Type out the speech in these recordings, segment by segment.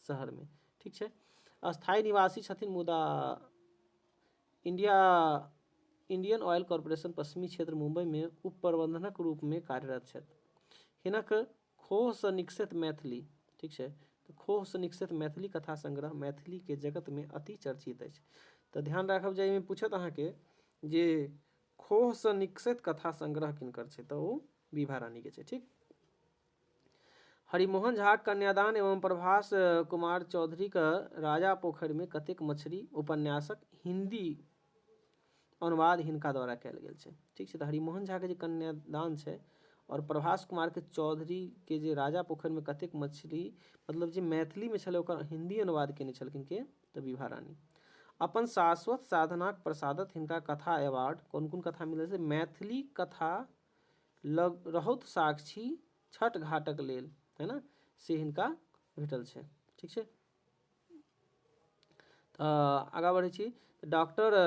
शहरमे ठीक छै स्थायी निवासी छथिन मुदा इंडिया इंडियन ऑयल कॉरपोरेशन पश्चिमी क्षेत्र मुंबईमे उप प्रबंधनक रूपमे कार्यरत छथि हिनक खोहसँ निकसैत मैथिली ठीक छै तऽ खोहसँ निकसैत मैथिली कथा संग्रह मैथिलीके जगतमे अति चर्चित अछि तऽ ध्यान राखब जे एहिमे पूछत अहाँके जे खोहसँ निकसैत कथा संग्रह किनकर छै तऽ ओ विभा रानीके छै ठीक हरिमोहन झाक कन्यादान एवं प्रभास कुमार चौधरीक राजा पोखरिमे कतेक मछरी उपन्यासक हिन्दी अनुवाद हिनका द्वारा कयल गेल छै ठीक छै तऽ हरिमोहन झाके जे कन्यादान छै आओर प्रभास कुमारके चौधरीके जे राजा पोखरिमे कतेक मछली मतलब जे मैथिलीमे छलै ओकर हिन्दी अनुवाद कयने छलखिन के तऽ विभा रानी अपन शाश्वत साधनाक प्रसादत हिनका कथा अवार्ड कोन कोन कथा मिलल छै मैथिली कथा लग रहौत साक्षी छठ घाटक लेल है ने से हिनका भेटल छै ठीक छै तऽ आगाँ बढ़ै छी डॉक्टर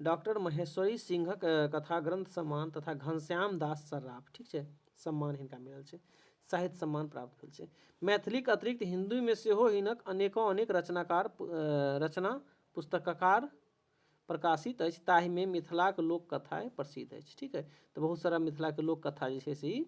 डॉक्टर महेश्वरी सिंहक कथा ग्रंथ सम्मान तथा घनश्याम दास सर्राफ ठीक छै सम्मान हिनका मिलल छै साहित्य सम्मान प्राप्त भेल छै मैथिलीक अतिरिक्त हिन्दूमे सेहो हिनक अनेकों अनेक रचनाकार रचना पुस्तककार प्रकाशित अछि ताहिमे मिथिलाक लोककथा प्रसिद्ध अछि ठीक अछि तऽ बहुत सारा मिथिलाके लोककथा जे छै से ई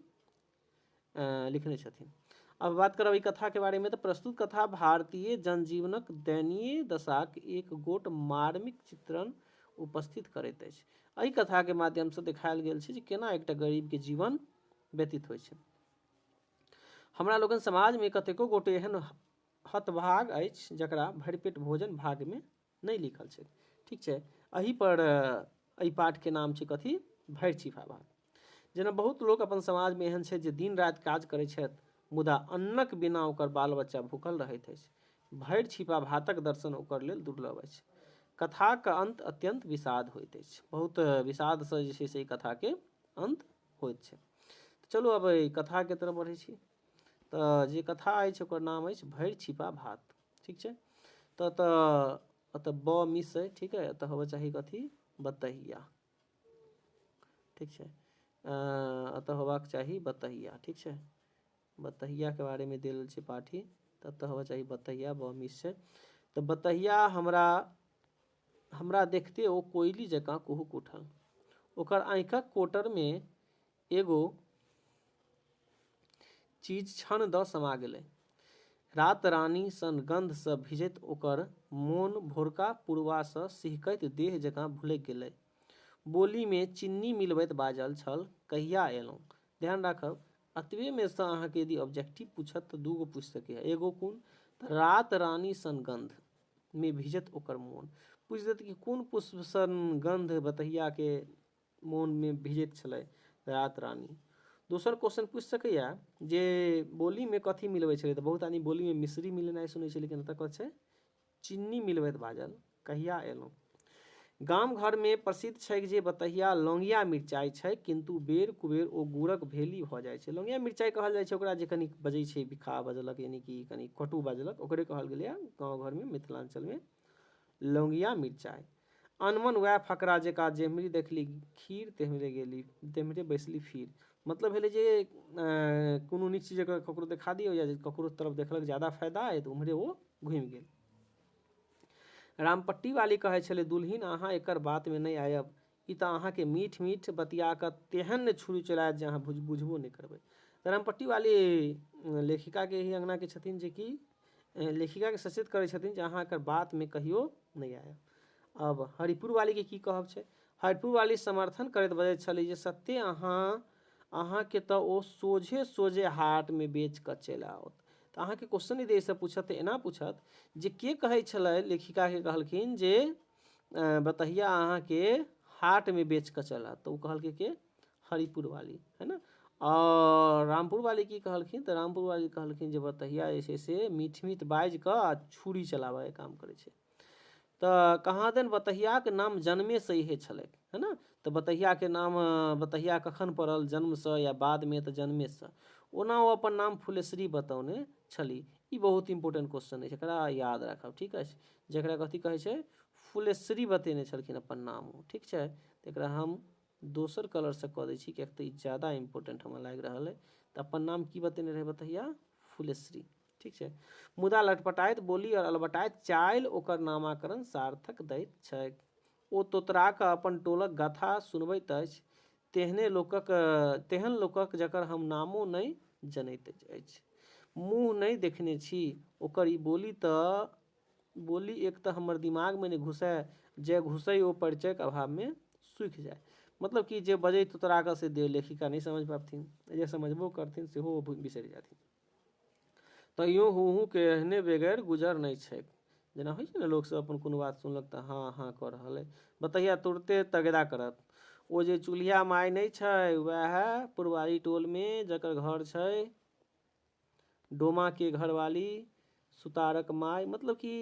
लिखने छथिन अब बात करब ई कथाके बारेमे तऽ प्रस्तुत कथा भारतीय जनजीवनक दयनीय दशाक एक गोट मार्मिक चित्रण उपस्थित करैत अछि एहि कथाके माध्यमसँ देखायल गेल छै जे केना एकटा गरीबके जीवन व्यतीत होइत छै हमरा लोकनि समाजमे कतेको गोटे एहन हतभाग अछि जकरा भरिपेट भोजन भागमे नहि लिखल छै ठीक छै एहि पर एहि पाठके नाम छै कथी भरि छिपा भाग जेना बहुत लोक अपन समाजमे एहन छै जे दिन राति काज करै छथि मुदा अन्नक बिना ओकर बाल बच्चा भूखल रहैत अछि भरि छिपा भातक दर्शन ओकर लेल दुर्लभ अछि कथाक अंत अत्यंत विषाद होइत अछि बहुत विषादसँ जे छै से ई कथाके अंत होइत छै चलू अब एहि कथाके तरफ बढ़ै छी तऽ जे कथा अछि ओकर नाम अछि भरि छिपा भात ठीक छै तऽ एतऽ एतऽ ब मिस अइ ठीक अइ एतऽ होबऽ चाही कथी बतहिया ठीक छै एतऽ होबाक चाही बतहिया ठीक छै बतहियाके बारेमे देल छै पाठी तऽ एतऽ होबऽ चाही बतहिया ब मिस छै तऽ बतहिया हमरा हमरा देखते ओ कोयली जकाँ कुहुक उठल ओकर आँखिक कोटरमे एगो चीज छन द समा गेलै। रातरानी सन गंध सँ भिजैत ओकर मोन भोरका पुरवा सँ सिहकैत देह जकाँ भुलैक गेलै। बोली मे चिन्नी मिलबैत बाजल छल कहिया एलौं? ध्यान राखब, अतबे मे सँ अहाँ केँ यदि ऑब्जेक्टिव पूछत त दू गो पूछि सकैए। एगो कोन? त रातरानी सन गंध मे भिजैत ओकर मोन। पूछि देत कि कोन पुष्प सन गंध बतहिया केँ मौनमे भिजैत छलै रात रानी दोसर क्वेश्चन पूछि सकैए जे बोलीमे कथी मिलबै छलै तऽ बहुत आदमी बोलीमे मिश्री मिलेनाइ सुनै छै लेकिन एतऽ कथी छै चिन्नी मिलबैत बाजल कहिया एलहुँ गाम घरमे प्रसिद्ध छै जे बतहिया लौंगिया मिरचाइ छै किन्तु बेर कुबेर ओ गुड़क भेली भऽ जाइ छै लौंगिया मिरचाइ कहल जाइ छै ओकरा जे कनी बजै छै बिखा बजलक यानि कि कनी कटु बजलक ओकरे कहल गेलैए गाँव घरमे मिथिलाञ्चलमे लौंगिया मिरचाइ। अनमन वएह फकरा जेका जेम्हरे देखली खीर तेम्हरे गेली तेम्हरे बैसली फिर मतलब भेलै जे कोनो नीक चीज अगर ककरो देखा दियौ या ककरो तरफ देखलक ज्यादा फायदा अइ तऽ ओम्हरे ओ घुमि गेल रामपट्टी वाली कहै छलै दुलहिन अहाँ एकर बातमे नहि आयब ई तँ अहाँकेँ मीठ-मीठ बतिया कऽ तेहन ने छुरी चलाएत जे अहाँ बुझबो नहि करबै। धरमपट्टी वाली लेखिका के एहि अंगना के छथिन जे कि लेखिका के सचेत करै छथिन जे अहाँ एकर बात मे कहियो नहि आयब। आब हरिपुर वाली के की कहब छै? हरिपुर वाली समर्थन करैत बजैत छली जे सत्ते अहाँ अहाँ के तँ ओ सोझे-सोझे हाट मे बेच कऽ चलि आओत। तँ अहाँ के क्वेश्चन यदि एहि सँ पूछत तँ एना पूछत जे के कहै छलै लेखिका के कहलखिन जे बतहिया अहाँ के हाट में बेच के चला तो कहल के के हरिपुर वाली है ना और रामपुर वाली की कहलखिन तो रामपुर वाली कहलखिन जे बतहिया जे छै से मीठ मीठ बाजि कऽ आ छुरी चलाबय काम करै छै तऽ कहाँ देन बतहियाक नाम जन्मे से इहे छलै है ना तऽ बतहिया के नाम बतहिया कखन पड़ल जन्म से या बाद में तऽ जन्मे से ओना ओ अपन नाम फुलेश्वरी बतौने छली ई बहुत इंपोर्टेंट क्वेश्चन अछि एकरा याद राखब ठीक अछि जकरा कथी कहै छै फुलेश्वरी बतेने छलखिन अपन नाम ओ ठीक छै तऽ एकरा हम दोसर कलरसँ कऽ दै छी किएक तऽ ई ज्यादा इम्पोर्टेंट हमरा लागि रहल अइ तऽ अपन नाम की बतेने रहै बतहिया फुलेश्वरी ठीक छै मुदा लटपटाइत बोली आओर अलबटाइत चालि ओकर नामाकरण सार्थक दैत छैक ओ तोतरा कऽ अपन टोलक गाथा सुनबैत अछि तेहने लोकक तेहन लोकक जकर हम नामो नहि जनैत अछि मुँह नहि देखने छी ओकर ई बोली तऽ बोली एक तऽ हमर दिमागमे नहि घुसए जे घुसै ओ परिचयक अभावमे सूखि जाय मतलब कि जे बजै तोतरा कऽ से लेखिका नहि समझि पबथिन जे समझबो करथिन सेहो ओ बिसरि जाथिन तैयो हूँ हूँ के एहने बेगैर गुजर नहि छैक। जेना होइ छै ने लोक सब अपन कोनो बात सुनलक तऽ हाँ हाँ कऽ रहल अइ। बतहिया तुरते तगेदा करत। ओ जे चुल्हिया माय नहि छै वएह पुरवारी टोल मे जकर घर छै डोमा के घरवाली सुतारक माय मतलब कि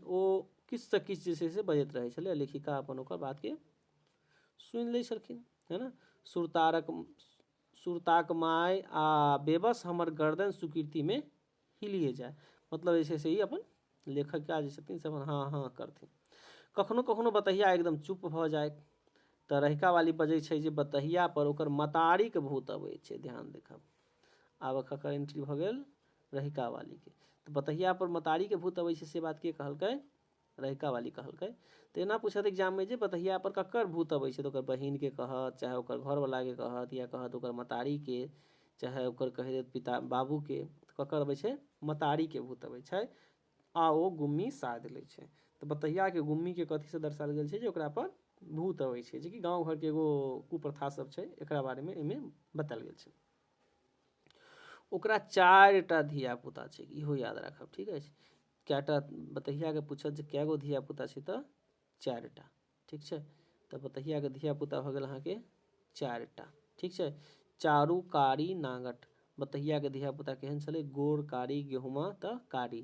ओ किछु से किछु जे छै से बजैत रहै छलै आ लेखिका अपन ओकर बात के सुनि लै छलखिन है न सुरतारक सुरताक माय आ बेबस हमर गर्दन सुकृति में हिलिए जाय मतलब जे छै से ई अपन लेखकिया जे छथिन से अपन हाँ हाँ करथिन कखनो कखनो बतहिया एकदम चुप भऽ जाय तऽ रहिका वाली बजै छै जे बतहिया पर ओकर मतारीक भूत अबै छै ध्यान देखब आब ककर एंट्री भऽ गेल रहिका वालीके तऽ बतहिया पर मतारीके भूत अबै छै से बात के कहलकै रहिका वाली कहलकै तऽ एना पूछत एग्जाममे जे बतहिया पर ककर भूत अबै छै तऽ ओकर बहिनके कहत चाहे ओकर घरवलाके कहत या कहत ओकर मतारीके चाहे ओकर कहि देत पिता बाबूके तऽ ककर अबै छै मतारीके भूत अबै छै आ ओ गुम्मी साध लै छै तऽ बतहियाके गुम्मीके कथीसँ दर्शायल गेल छै जे ओकरा पर भूत अबै छै जेकि गाँव घरके एगो कुप्रथा सब छै एकरा बारेमे एहिमे बतायल गेल छै ओकरा चारि टा धियापुता छै इहो याद राखब ठीक अछि कए टा बतहियाके पूछत जे कए गो धियापुता छै तऽ चारि टा ठीक छै तऽ बतहियाके धियापुता भऽ गेल अहाँके चारि टा ठीक छै चारू कारी नागट बतहियाके धियापुता केहन छलै गोर कारी गेहुमा तऽ कारी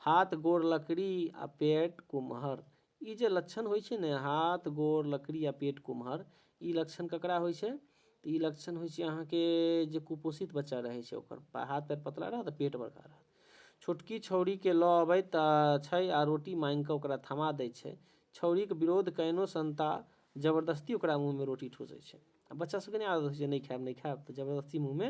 हाथ गोर लकड़ी आ पेट कुम्हर ई जे लक्षण होइ छै ने हाथ गोर लकड़ी आ पेट कुम्हर ई लक्षण ककरा होइ छै तऽ ई लक्षण होइ छै अहाँके जे कुपोषित बच्चा रहै छै ओकर हाथ पैर पतला रहत आ पेट बड़का रहत छोटकी छौड़ीके लऽ अबैत छै आ रोटी मांगि कऽ ओकरा थमा दै छै छौड़ीके विरोध कयनो संता जबरदस्ती ओकरा मुँहमे रोटी ठूसै छै आ बच्चा सभके नहि आदत होइ छै नहि खायब नहि खायब तऽ जबरदस्ती मुँहमे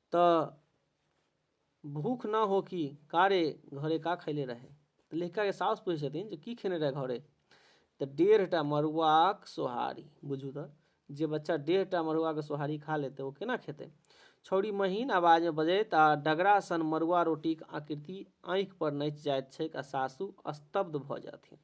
तऽ भूख ना हो कि का रे घरे का खैले रहे तऽ लड़काके साउस पूछै छथिन जे की खेने रहे घरे तऽ डेढ़टा मड़ुआक सोहारी बुझू तऽ जे बच्चा डेढ़टा मड़ुआके सोहारी खा लेतै ओ केना खेतै छौड़ी महीन आवाजमे बजैत आ डगरा सन मड़ुआ रोटीक आकृति आँखिपर नचि जाइत छैक आ सासु स्तब्ध भऽ जाथिन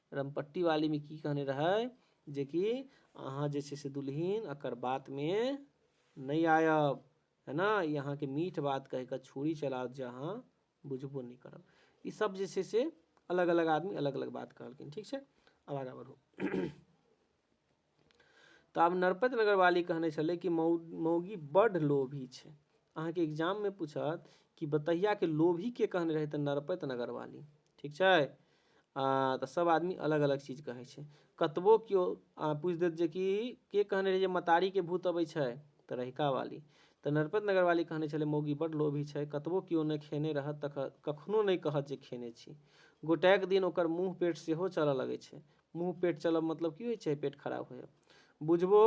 रमपट्टी वाली में की कहने रहै जे कि अहाँ जे छै से दुल्हिन एकर बात में नहीं आयब है ना ई अहाँके मीठ बात कह के छुरी चला जे अहाँ बुझबो नहीं करब ई सब जे छै से अलग अलग आदमी अलग अलग बात कहलखिन ठीक छै अब आगा बढ़ू तऽ आब नरपत नगरवाली कहने छलै कि मौ मौगी बड्ड लोभी छै अहाँके एग्जाममे पूछत कि बतहियाके लोभी के कहने रहै तऽ नरपत नगरवाली ठीक छै आ तऽ सब आदमी अलग अलग चीज कहै छै कतबो केओ आ, पूछि देत जे कि के कहने रहै जे मतारीके भूत अबै छै तऽ रहिका वाली तऽ नरपत नगरवाली कहने छलै मौगी बड्ड लोभी छै कतबो केओ नहि खेने रहत तऽ कखनो नहि कहत जे खेने छी गोटैक दिन ओकर मुँह पेट सेहो चलऽ लगै छै मुँह पेट चलब मतलब की होइ छै पेट खराब होयब बुझबो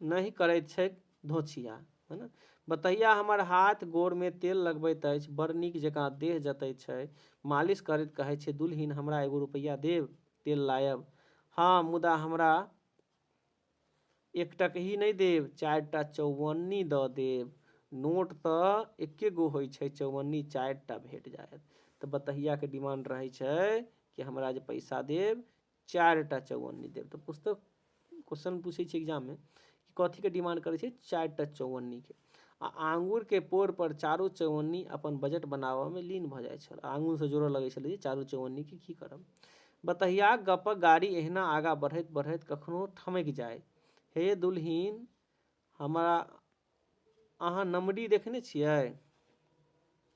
नहि करैत छैक धोछिया है ने बतैया हमर हाथ गोड़मे तेल लगबैत अछि बड़ नीक जकाँ देह जतैत छै मालिश करैत कहै छै दुलहिन हमरा एगो रुपैआ देब तेल लायब हँ मुदा हमरा एक टकही नहि देब चारि टा चौवन्नी दऽ देब नोट तऽ एके गो होइ छै चौवन्नी चारि टा भेट जायत तऽ बतहियाके डिमांड रहै छै कि हमरा जे पैसा देब चारि टा चौवन्नी देब तऽ पुस्तक क्वेश्चन पूछै छै एग्जाममे कि कथीके डिमांड करै छै चारि टा चौवन्नीके आ आँगुर के पोर पर चारू चौअन्नी अपन बजट बनाबऽ मे लीन भऽ जाइत छल। आँगुर सँ जोड़ऽ लगैत छल जे चारू चौअन्नी के की करब। बतहियाक गप्पक गाड़ी एहिना आगाँ बढ़ैत-बढ़ैत कखनो ठमकि जाय। हे यै दुलहिन, हमरा अहाँ नमरी देखने छियै?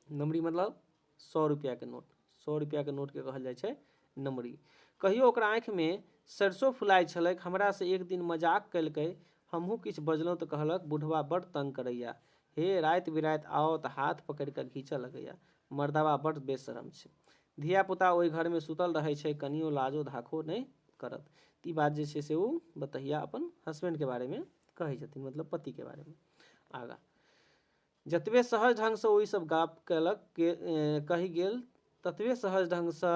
नमरी मतलब सौ रुपया के नोट सौ रुपया के नोट के कहल जाय छै नमरी कहियो ओकरा आँख में सरसों फुलाय छलक हमरा से एक दिन मजाक कयलकै हमहूँ किछ बजलहुँ तऽ कहलक बुढ़वा बड़ तंग करैया हे रात बिरात आओ तऽ हाथ पकड़ के घीचऽ लगैया मर्दवा बड़ बेशरम छै धिया पुता ओहि घर में सुतल रहै छै कनियो लाजो धाखो नहि करत ई बात जे छै से ओ बतहिया अपन हस्बैंड के बारे में कहै छथिन मतलब पति के बारे में आगा जतबे सहज ढंगसँ ओ ईसभ गप कयलक कहि गेल ततबे सहज ढंगसँ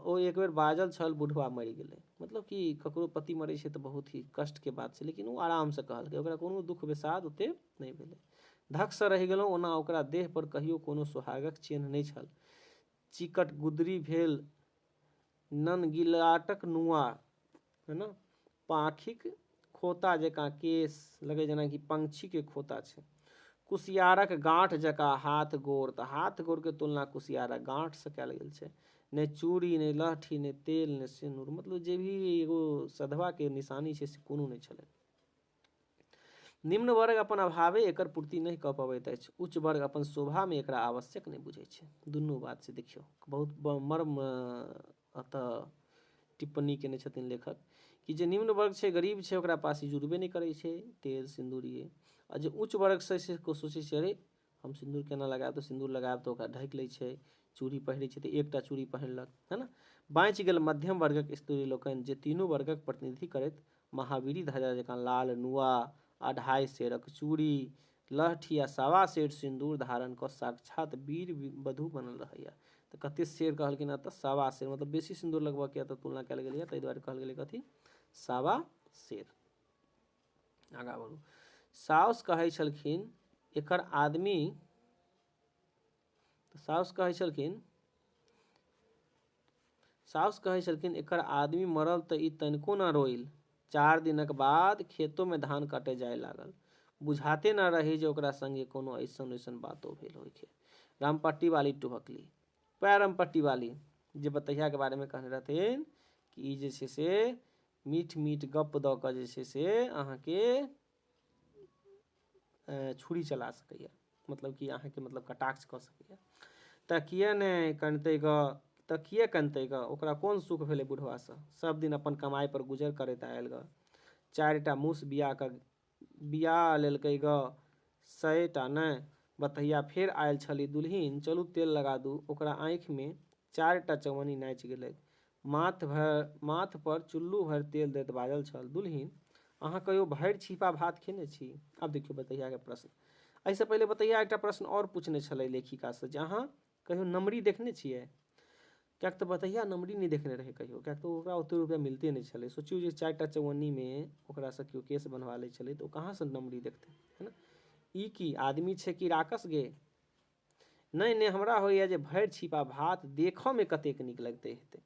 ओ एक बेर बाजल छल बुढ़वा मरि गेलै मतलब कि ककरो पति मरैत छै तऽ बहुत ही कष्टके बात छै लेकिन ओ आरामसँ कहलकै ओकरा कोनो दुःख विषाद ओतेक नहि भेलै धकसँ रहि गेलहुँ ओना ओकरा देहपर कहियो कोनो सोहागक चिन्ह नहि छल चिकट गुदरी भेल ननगिलाटक नुआ है ने पाँखिक खोता जकाँ केश लगै जेनाकि पंक्षीके खोता छै कुसियारक गाँठ जकाँ हाथ गोड़ तऽ हाथ गोड़के तुलना कुसियारक गाँठसँ कयल गेल छै नहि चूड़ी नहि लहठी नहि तेल नहि सिन्दूर मतलब जे भी एगो सधवाके निशानी छै से कोनो नहि छलै निम्न वर्ग अपन अभावे एकर पूर्ति नहि कऽ पबैत अछि उच्च वर्ग अपन शोभामे एकरा आवश्यक नहि बुझैत छै दुनू बात से देखियौ बहुत मर्म एतऽ टिप्पणी केने छथिन लेखक कि जे निम्न वर्ग छै गरीब छै ओकरा पास जुड़बे नहि करै छै तेल सिन्दूर ये आ जे उच्च वर्ग छै से सोचै छै अरे हम सिन्दूर केना लगायब तऽ सिन्दूर लगायब तऽ ओकरा ढकि लैत छै चूड़ी पहिरैत छै तऽ एकटा चूड़ी पहिरलक है ने बाँचि गेल मध्यम वर्गक स्त्री लोकनि जे तीनू वर्गक प्रतिनिधि करैत महावीरी ध्वजा जकाँ लाल नुआ अढ़ाइ सेरक चूड़ी लहठी आ सवा सेर सिन्दूर धारण कऽ साक्षात वीर वधू बनल रहैए तऽ कतेक सेर कहलखिन हेँ तऽ सवा सेर मतलब बेसी सिन्दूर लगबयके यए तऽ तुलना कयल गेलैए ताहि दुआरे कहल गेलै कथी सवा सेर आगा बढ़ू साउस कहै छलखिन एकर आदमी तऽ साउस कहै छलखिन साउस कहै छलखिन एकर आदमी मरल तऽ ई तनिको ना रोइल चार दिनक बाद खेतोमे धान कटे जाए लागल बुझाते ना रही जे ओकरा संगे कोनो ऐसन वैसन बातो भेल होइके रामपट्टी वाली टुहकली पै रामपट्टी वाली जे बतहियाके बारेमे कहने रहथिन कि ई जे छै से मीठ मीठ गप्प दऽ कऽ जे छै से अहाँके छुरी चला सकैए मतलब कि अहाँके मतलब कटाक्ष कऽ सकैए तऽ किए नहि कनतै गऽ तऽ किए कनतै गऽ ओकरा कोन सुख भेलै बुढ़वासँ सभदिन अपन कमाइपर गुजर करैत आयल गऽ चारिटा मूस बिआ कऽ बियाह लेलकै गऽ सए टा ने। बतहिया फेर आएल छलि दुलहिन चलू तेल लगा दू। ओकरा आँखि मे चारि टा चवन्नी नाचि गेलैक। माथ भरि माथ पर चुल्लू भरि तेल दैत बाजल छल दुलहिन अहाँ कहियो भरि छीपा भात खेने छी? आब देखियौ बतहिया के प्रश्न। एहि सँ पहिले बतहिया एकटा प्रश्न आओर पुछने छलै लेखिका सँ जे अहाँ कहियो नमरी देखने छियै किएक तऽ बतहिया नमरी नहि देखने रहै कहियो किएक तऽ ओकरा ओते रुपैआ मिलते नहि छलै सोचियौ जे चारि टा चौअन्नीमे ओकरासँ केओ केश बनबा लै छलै तऽ ओ कहाँसँ नमरी देखतै है ने ई की आदमी छै कि राकस गे नहि नहि हमरा होइए जे भरि छिपा भात देखऽमे कतेक नीक लगते हेतै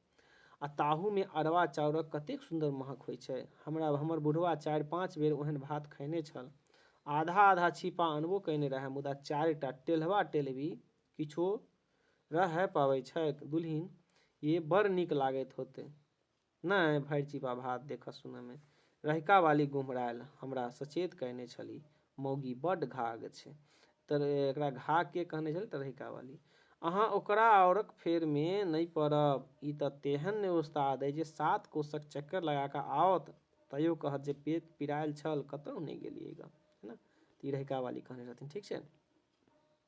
आ ताहूमे अरवा चाउरक कतेक सुन्दर महक होइ छै हमरा हमर बुढ़वा चारि पाँच बेर ओहन भात खयने छल आधा आधा छिपा अनबो कयने रहए मुदा चारिटा टेल्हवा टेल्हवी किछो रहए पाबै छैक दुलहिन ये बड़ नीक लागैत होते नहि भरि चिपा भात देखऽ सुनऽमे रहिका वाली गुमरायल हमरा सचेत कयने छली मौगी बड्ड घाग छै तर एकरा घागके कहने छली तरहिका वाली अहाँ ओकरा औरक फेरमे नहि पड़ब ई तऽ तेहन ने उस्ताद अइ जे सात कोसक चक्कर लगा कऽ आओत तैयो कहत जे पेट पिरायल छल कतहु नहि गेलियै ग है ना तऽ ई रहिका वाली कहने रहथिन ठीक छै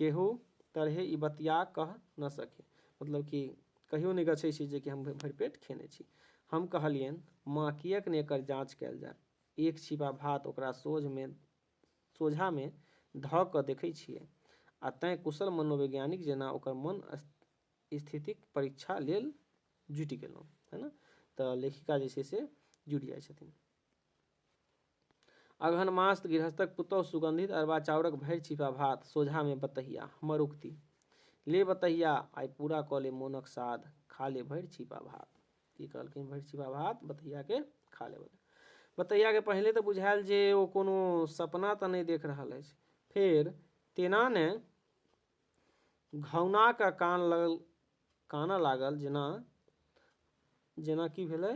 केहू तरहेँ ई बतिया कह न सके। मतलब कि कहियो नहि गछैत छी जे कि हम भरि पेट खेने छी। हम कहलियनि, माँ, किएक नहि एकर जाँच कयल जाय? एक छिपा भात ओकरा सोझमे, सोझाँमे धऽ कऽ देखैत छियै। आ तैँ कुशल मनोवैज्ञानिक जेना ओकर मन स्थितिक परीक्षा लेल जुटि गेलहुँ। है न? तऽ लेखिका जे छै से जुटि जाइत छथिन। अगहन मास गृहस्थक पुतहु सुगंधित अरबा चाउरक भरि छिपा भात सोझा मे बतहिया हमर उक्ति ले बतहिया आइ पूरा कऽ ले मोनक साध खा ले भरि छिपा भात की कहलखिन भरि छिपा भात बतहिया के खा ले बतहिया के पहिले तऽ बुझायल जे ओ कोनो सपना तऽ नहि देख रहल अछि फेर तेना ने घौना के कान लगल कानऽ लागल जेना जेना की भेलै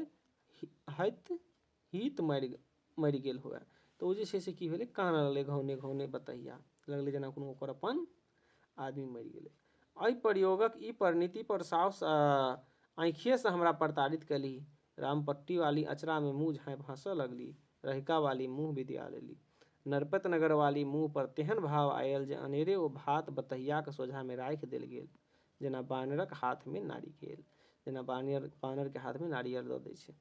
हइत हित मरि मरि गेल हुए तऽ ओ जे छै से की भेलै कानऽ लगलै घौने घौने बतहिया लगलै जेना कोनो ओकर अपन आदमी मरि गेलै एहि प्रयोगक ई परिणति पर साउस आँखिए से हमरा प्रताड़ित कयली रामपट्टी वाली अचरा में मुँह झाँपि हँसऽ लगली रहिका वाली मुँह विद्या लेली नरपत नगर वाली मुँह पर तेहन भाव आयल जे अनेरे ओ भात बतहियाक सोझा में राखि देल गेल जेना बानरक हाथमे नारिकेल जेना बानर बानरके हाथमे नारियल दऽ दै छै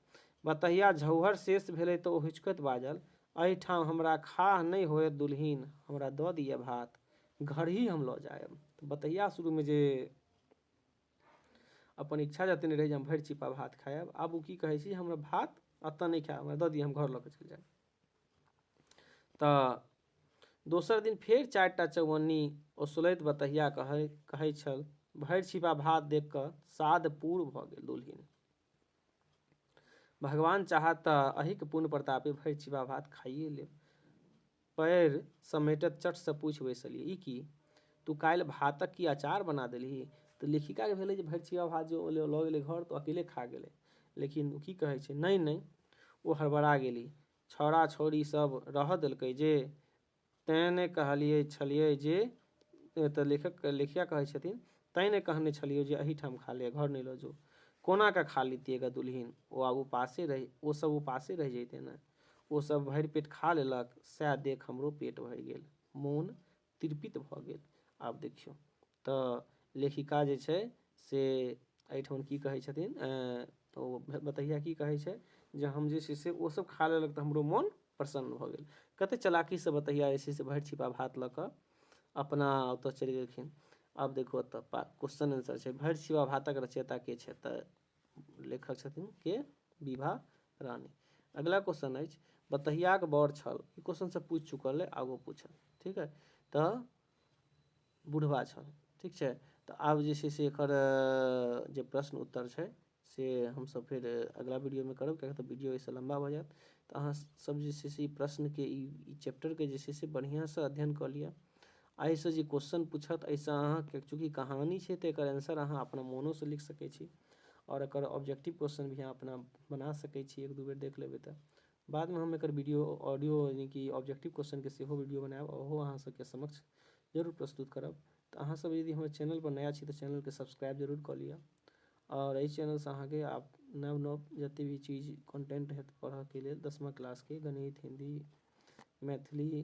बतहिया झौहर शेष भेलै तऽ ओ हुचकैत बाजल एहिठाम हमरा खाह नहि होयत दुलहिन हमरा दऽ दिअ भात घरही हम लऽ जायब तऽ बतहिया शुरूमे जे अपन इच्छा जतेने रहै जे हम भरि चिपा भात खायब आब ओ की कहै छी हमरा भात एतऽ नहि खायब हमरा दऽ दिअ हम घर लऽ कऽ चलि जायब तऽ दोसर दिन फेर चारि टा चौअन्नी ओसलैत बतहिया कहै कहै छल भरि छिपा भात देख कऽ साध पूर भऽ गेल दुलहिन भगवान चाहत तऽ अहिक पुण्य प्रतापे भरि छिपा भात खाइए लेब पैर समेटत चटसँ पूछि बैसलियै ई की तू काल्हि भातक की अचार बना देलही तऽ लेखिकाके भेलै जे भरि छिपा भात जे लऽ गेलै घर तऽ अकेले खा गेलै लेकिन ओ की कहै छै नहि नहि ओ हड़बड़ा गेली छौड़ा-छौड़ी सभ रहऽ देलकै जे? तैं ने कहलिए छलिअए जे एतऽ लेखक लेखिका कहै छथिन तैं ने कहने छलियौ जे अहीठाम खा लिअ, घर नहि लऽ जो। कोना कऽ खा लितिऐ गऽ दुलहिन? ओ आब उपासे रहि ओ सभ उपासे रहि जइतै ने। ओ सभ भरि पेट खा लेलक, सएह देख हमरो पेट भरि गेल। मोन तिरपित भऽ गेल आब देखियौ तऽ लेखिका जे छै से एहिठाम की कहैत छथिन तऽ ओ बतहिया की कहैत छै जे हम जे छै से ओसभ खा लेलक तऽ हमरो मोन प्रसन्न भऽ गेल कतेक चलाकीसँ बतहिया जे छै से भरि छिपा भात लऽ कऽ अपना ओतय चलि गेलखिन आब देखू एतय क्वेश्चन आन्सर छै भरि छिपा भातक रचयिता के छथि लेखक छथिन के विभा रानी अगला क्वेश्चन अछि बतहियाक बड़ छल ई क्वेश्चन से पूछ चुकल है आगो पूछल ठीक है तो बुढ़वा छल ठीक है तो आब जे से एकर जे प्रश्न उत्तर है से हम सब फिर अगला वीडियो में करब क्या तो वीडियो ऐसे लंबा हो जाए तो अहाँ सब जे से प्रश्न के चैप्टर के जे से बढ़िया से अध्ययन कर लिया एहि सँ जे क्वेश्चन पूछत एहि सँ अहाँ के चूँकि कहानी छै तऽ एकर आंसर अहाँ अपना मोनो सँ लिख सकै छी आओर एकर ऑब्जेक्टिव क्वेश्चन भी अहाँ अपना बना सकै छी एक दू बेर देख लेबै तऽ बाद मे हम एकर वीडियो ऑडियो यानि कि ऑब्जेक्टिव क्वेश्चन के सेहो वीडियो बनायब ओहो अहाँ सब के समक्ष जरूर प्रस्तुत करब तऽ अहाँ सब यदि हमर चैनल पर नया छी तऽ चैनल के सब्सक्राइब जरूर कऽ लिअ आओर एहि चैनल सँ अहाँ के आब नव नव जते भी चीज कॉन्टेंट होयत पढ़ऽ के लेल दसमा क्लास के गणित हिन्दी मैथिली